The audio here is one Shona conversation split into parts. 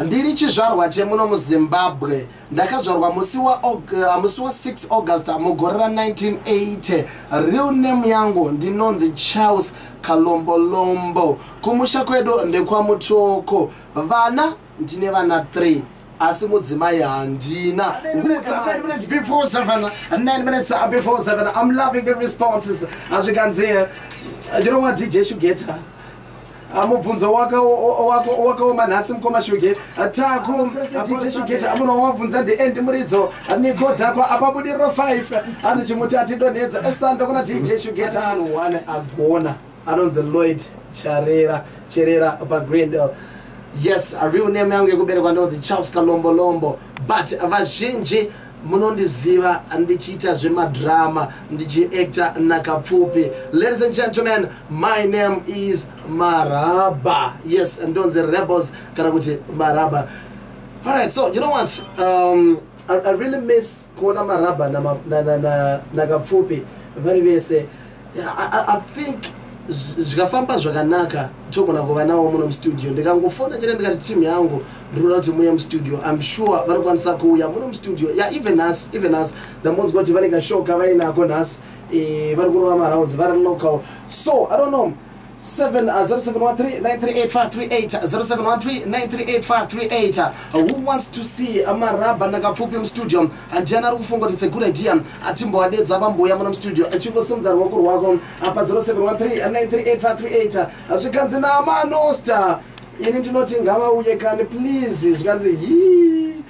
ndiri chizvarwa chemuno muzimbabwe ndakazvarwa musi wa6 uh, august mugore ra 1980 real name yangu ndinonzi charles kalombolombo kumusha kwedu ndekwamutoko vana ndine vana 3 asi mudzimai handina azvikanzi you know what dj shugeta Ah, mubvunzo wakaoma nhasi mukoma shugeti ah, tako dj shugeti amuna wamabvunza ndiend muridzo ah, migodhakwa apabudiriro 5 andichimuti atidonhedza eh, sando kuna dj shugeti anhu one agona anonzi lloyd charera cherera pagrindel yes real name yangu yekuberekwa ndonzi charles kalombolombo but vazhinji munondiziva ndichiita zvemadrama ndichiacta nakapfupi ladies and gentlemen my name is maraba yes ndonzi rebels kana kuti maraba alright so you know what um, I, i really miss kuona maraba nakapfupi na, na, na, na vari vese I think zvikafamba zvakanaka togona kuva nawo muno mustudio ndikangofona chete ndikati team yangu ndinoda kuti muye mustudio im sure vanokwanisa kuuya muno mustudio ya even us even us ndambonzwa kuti vane kashoka vainako nhasi eh, vari kurova marounds vari local so i don't know 0713938538 who wants to see maraba nakapfupi mustudio handiani ari kufunga kuti tsegura dia atimboadedza vambouya muno mustudio achingosimudza ruoko rwako apa 0713938538 zvikanzi namanosta ini ndinoti ngavauye kani please zvikanzi hii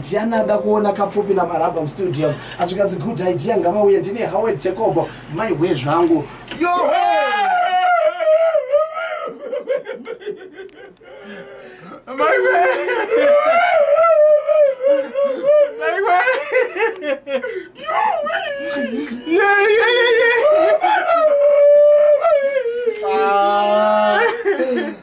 Diana ada kuona kapfupi na Marabam studio azvikanzi good idea ngavauye ndine Howard Jacob mai hwe zvangu yo mai hwe mai hwe yo yeah yeah yeah yeah ah.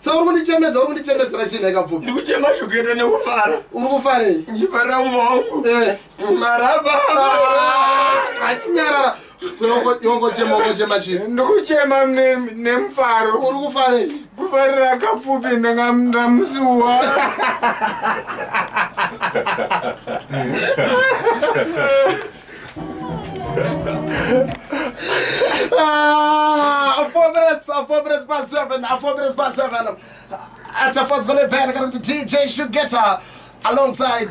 Sa uri kundichemedza uri kundichemedzera chii nhai kapfupi? Ndikuchema zvekuita nekufara. Uri kufarei? Ndichifarira umwe wangu. Eh. Maraba. Ah, achinyarara. Yongochema ongochema chii? Ndikuchema nemufaro. Uri kufarei? Kufarira kapfupi ndanga ndamusuwa. Ah, four minutes, uh, four minutes past seven, uh, four minutes past seven. Um, at a fourth minute band, to DJ Shugeta. alongside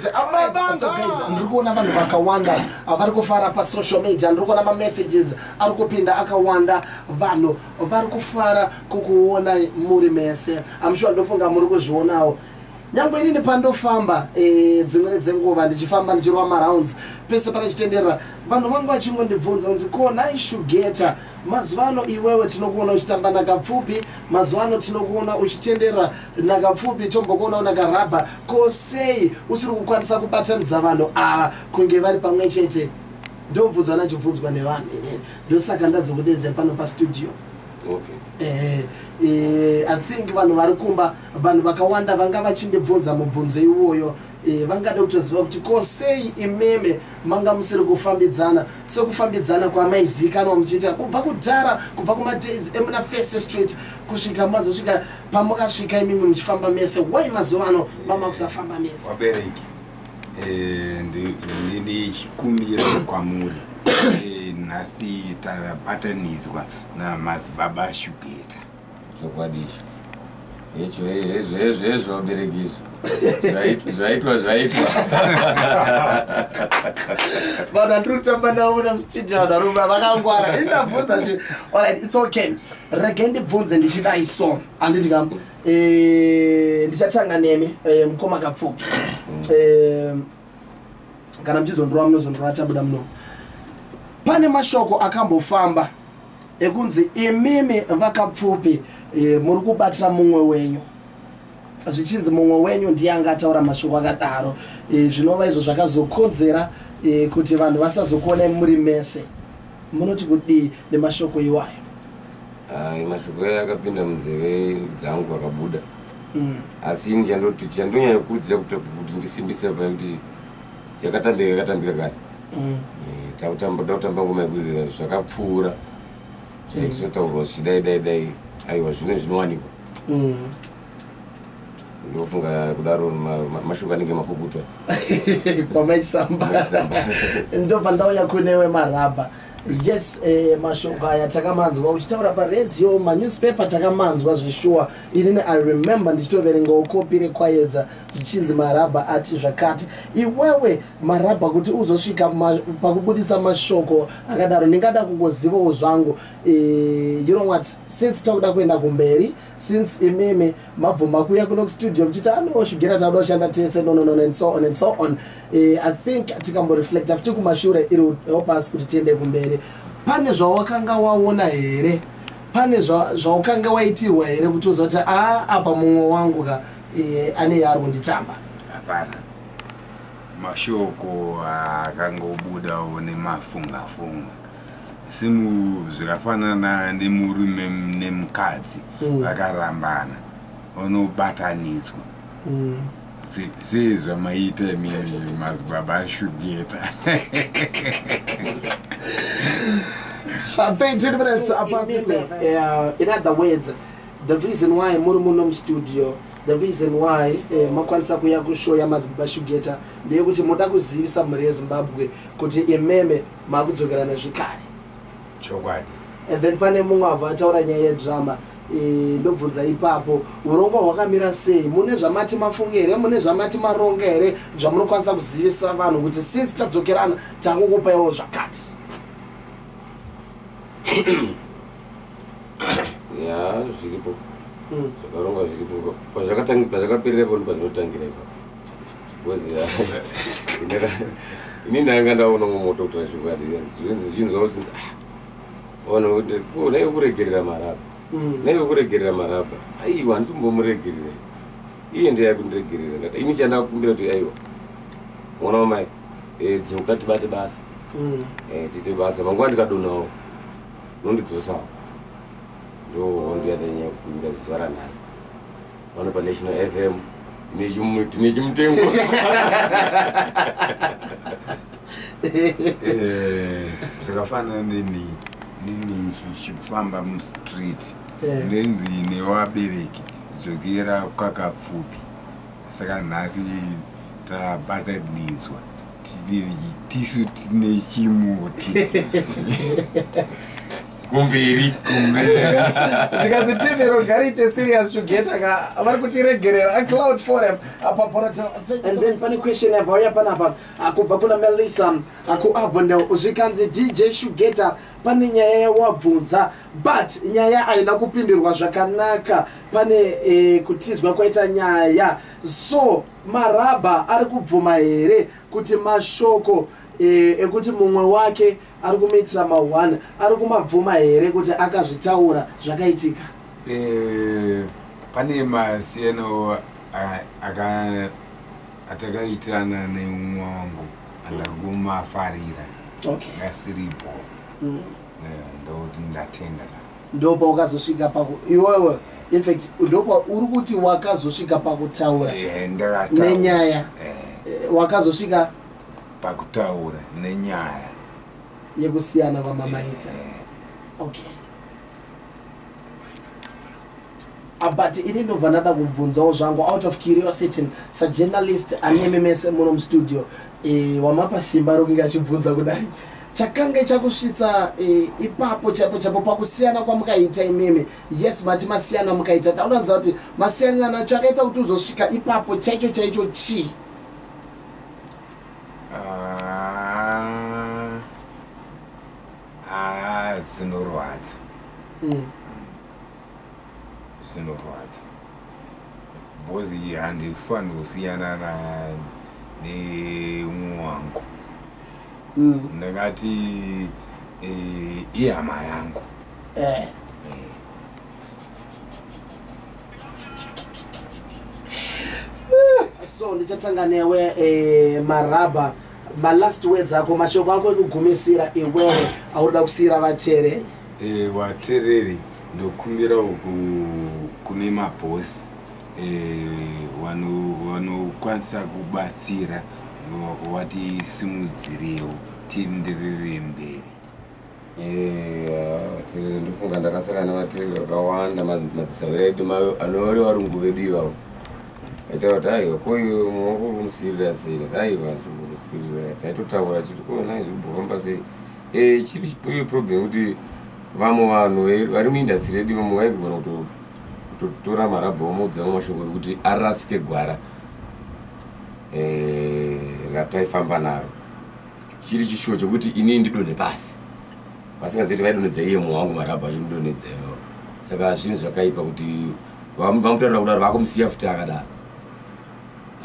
ndiri kuona vanhu vakawanda uh, vari kufara pasocial media ndiri kuona mamessages ari kupinda akawanda vanhu vari kufara kukuonai muri mese amushuwa ndofunga muri kuzvionawo nyange inini pandofamba eh, dzimweni dzenguva ndichifamba ndichirova marounds pese panechitenderera vanhu vangu vachingondibvunza kunzi konai shugeta mazuva ano iwewe tinokuona uchitamba nakapfupi mazuva ano tinokuona uchitenderera nakapfupi tombokuona unakarabha ko sei usiri kukwanisa kubatanidza vanhu ava kunge vari pamwe chete ndobvunzwa nachibvunzwa nevanhu inini ndosaka ndazokudedzera pano pastudio okay. eh, eh, i think vanhu vari kumba vanhu vakawanda vanga vachindibvunza mubvunzo iwoyo e, vangada kutoziva kuti ko sei imimi manga musiri kufambidzana sekufambidzana kwamaizikanwa muchiita kubva kudhara kubva kumadays emuna first street kusvika mazosvika pamukasvika imimi muchifamba mese why mazuva ano mama kusafamba mese vabereki e, ndini chikumbiro kwamuri e, nhasi tabatanidzwa namadzibaba shugeta chokwadi icho hecho hezvo hezvo hezvo vabereki izvo zvaitwa zvaitwa vanhu andiri kutamba navo na mustudio vanhu varume vakangwara indabvunza ti allright its okay rege ndibvunze ndichidai so anditi kam eh, ndichatanga nemi eh, mukoma kapfupi mm. eh, kana muchizondorova munozondorova tabuda muno pane mashoko akambofamba ekunzi imimi vakapfupi e, muri kubatira mumwe wenyu zvichinzi mumwe wenyu ndiye anga ataura mashoko akadaro e, zvinova izvo zvakazokonzera e, kuti vanhu vasazokuonai muri mese munoti kudii nemashoko iwayo ah, mashoko ayo akapinda munzeve dzangu akabuda mm. asi ini chandoti chandonyanya kuudza kuti ndisimbise pakuti yakatambira yakatambira kare mm. eh, takutamba takutamba ngoma yekuririra zvakapfuura zvaitotaurwa mm. zvichidai dai dai aiwa zvine zvinowanikwa mm. ndofunga kudaro mashoko anenge makukutwa kwamaisamba ndo pandauya kunewe marabha yes eh, mashoko aya takamanzwa uchitaura paradio manewspaper takamanzwa zveshuwa inini i remember ndichitoverengawo kopi rekwayedza zvichinzi marabha ati zvakati iwewe marabha kuti uzosvika ma, pakubudisa mashoko akadaro ndingada kungozivawo zvangu e, you know what since takuda kuenda kumberi since imimi mabvuma kuya kuno kustudio muchiti anoshugera tauda kushanda tese nononon and so on and so on e, i think tikamboreflecta futi kumashure iri help us kuti tiende kumberi pane zvawakanga waona here pane zvaukanga waitirwa here kuti uzoti a ah, apa mumwe wangu ka eh, ane yaari kunditamba hapana mashoko akangobudawo nemafungafunga simu zvakafanana nemurume nemukadzi mm. vakarambana mm. unobatanidzwa mm. sei zvamaita imimi mazibaba ashugeta 13 minutes apasise uh, in other words the reason why muri muno mustudio the reason why eh, makwanisa kuya kushow yamadzibaba shugeta ndeyekuti moda kuzivisa mhuri yezimbabwe kuti imeme makudzokerana zvekare chokwadi and then pane mumwe avo ataura nyaya yedrama eh, ndobvunza ipapo urongwa hwakamira sei mune zvamati mafunge here mune zvamati maronga here zvamunokwanisa kuzivisa vanhu kuti since tadzokerana takukupaiwo zvakati ya zviripo mm. zvakarongwa zviripo pazvakaperera poni pazvinotangira ipa bcoz ini ndanga ndaona umwe moto kuti vazvokwadi zvinzwa kuti ah, ona kuti oh, naive kuregerera maraba mm. naive kuregerera maraba aiwa handisi kumbomuregerera iye ndiye akundiregerera ndati ini chandakumbira kuti aiwa mwana wamai eh, dzoka tibate basa mm. eh, tiite basa manguva ndikadonawo Unondidzosa ndo hondo yatanyanya kukumbira zuva ranhasi vano panational fm tine chimutengo eh, zvakafanana neni nini zvichifamba mustreet eh. nenzi newabereki dzokera kwakapfupi saka nhasi tabatanidzwa tisu tine chimuti kumberi zvikanzi tindero gariite serious shugeta ka vari kutiregerera acloud forum apaporotand then pane question yabva uya panapa akubva kuna melissa akuavondel zvikanzi dj shugeta pane nyaya yawabvunza but nyaya haina kupindirwa zvakanaka pane eh, kutizwa kwaita nyaya so marabha ari kubvuma here kuti mashoko eh, ekuti mumwe wake ari kumuitira ma1 ari kumabvuma here kuti akazvitaura zvakaitika eh, pane masiyano atakaitirana neumwe wangu andaguma farira okay. asiripo mm. ndatenda ndopa wakazosvika pako iwewe infact ndopa uri kuti wakazosvika pakutaura eh, nenyaya eh. Eh, wakazosvika pakutaura nenyaya yekusiyana kwamamaita okay Ah, but ini ndobva ndada kubvunzawo zvangu out of curiosity sajournalist anemi mese muno mustudio e, wamapa simba rokunge achibvunza kudai chakange chakusvitsa e, ipapo chapo chapo pakusiyana kwamukaita imimi yes mati masiyana mukaita dauranza kuti masiyanira nacho akaita kuti uzosvika ipapo chaicho chaicho chii ah, ah, zinorwadza mm. zvinorwadza bhozi iyi handifanire kusiyana neumwe wangu mm. ndingati eh, ihama yangu eh. so ndichatanga newe eh, maraba malast words ako mashoko ako ekugumisira iwewe auroda kusiyira vateereri e, vateereri ndokumbirawo kune mabhosi e, vanokwanisa wano kubatsira vatisimudzirewo tienderere mberi Terere ndofunga ndakasangana nematerere akawanda madzisavira edu mayo anori varungu vedu ivavo aita kuti aiwa ko iwe mumwe wako uri kumusirira sei aiva zvimusirira taitotaura chiti ko nai zviri kufamba sei e chiri chipuri problem kuti vamwe vanhu vari muindastry redu vamwe vaigona kutotora marabha omudza vamwe mashoko ekuti arasike gwara e, rataifamba naro chiri chishuwa chekuti inini ndidonhe pasi vasingazivi kuti vaidonhedza iye mwoyo wangu marabha achimudonhedza iyoyo saka zvinhu zvakaipa kuti vamutaurira kudaro vakumusiya futi akadaro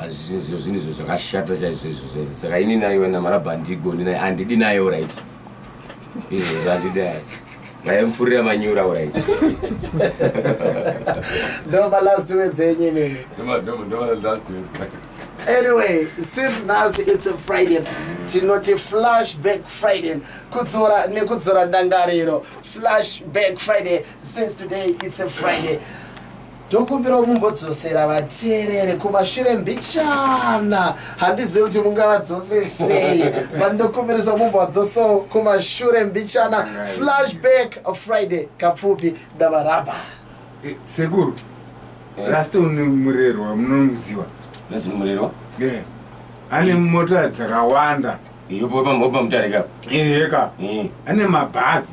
azvinhu zvinhu izvo zvakashata chaizvo izvo saka ini naiwe namarabha handigoni naye handidi nayewo right izvo zvandidai ngaimfurira manyura urai ndoma last words enyu imimi anyway since nhasi it's a friday tinoti flashback friday kudzora nekudzora ndangariro flashback friday since today it's a friday ndokumbirawo mumbodzosera vateereri kumashure mbichana handizivi kuti mungavadzose sei but ndokumbirisa mumbovadzosawo kumashure mbichana flashback friday kapfupi ndavaramba eh, sekuru eh. rasta une murerwa munomuziva nezimurerwa eh, ane mota dzakawanda iyopopamutarika eheka ane mabhazi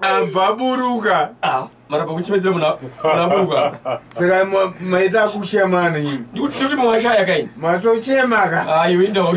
ambva aburuka ah, marapa kuchimedzera munhu aburuka saka maita kuchema ano nyini ndikuti mwashaya kaini matochema ka ayo ah, indawo